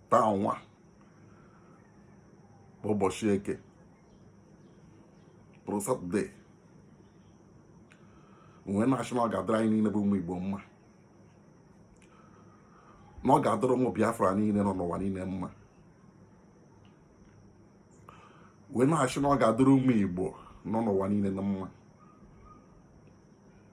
taa nwa bụ ụbọchị eke bụrụ satọde wee na-asị na ọ ga-adịrị anyị niile bụ ụmụ igbo mma na ọ ga-adịrị ụmụ biafra niile nọ n'ụwa niile mma wee na-asị na ọ ga-adịrị ụmụ igbo nọ n'ụwa niile na mma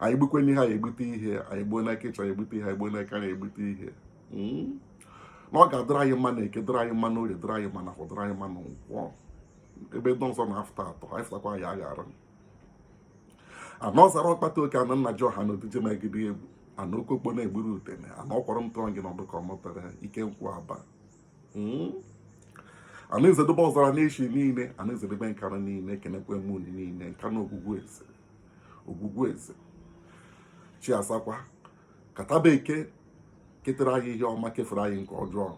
anyị gbukwe n'ihe anyị egbute ihe anyị gbuo n'aka ịchọ anyị egbute ihe anyị gbuo n'aka anyị egbute ihe hmm? na ọ ga-adịrị anyị mma na eke dịrị anyị mma na orie dịrị anyị mma na afọ dịrị anyị mma na nkwọ ebe ndị ọzọ na-afụta atọ anyị fụtakwa anyị aghara ana ọzara ọkpata oke ana nna ji ọha na odije megide egwu ana oke okpo na-egburu udene ana ọkwọrọ m tụọ gị n'ọdụ ka ọ mụtara ike nkwụ aba hmm? ana ezedobe ọzara na-echi niile ana ezedobe nkanu niile ekenekwe m unu niile nka na ogwugwu eze Ogwugwueze chi asakwa ka taa bụ eke ketara anyị ihe ọma kefere anyị nke ọjọọ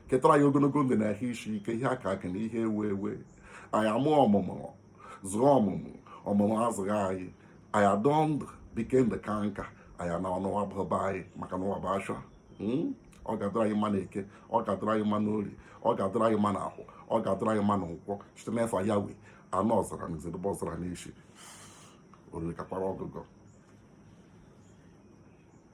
ketara anyị ogologo ndụ na ahụ isi ike ihe akụ akụ na ihe enwe enwe anyị amụọ ọmụmụ zụọ ọmụmụ ọmụmụ azụọ anyị anyị adị ndụ bike ndụ kaa nka anyị anọ n'ụwa bụba anyị maka na ụwa bụ ashịa hmm? ọ ga-adịrị anyị mma na eke ọ ga-adịrị anyị mma n'orie ọ ga-adịrị anyị mma na afọ ọ ga-adịrị anyị mma na nkwọ site n'efa yahweh ana ọzara na ezedobe ọzara n'isi oriri kakwara ọgụgọ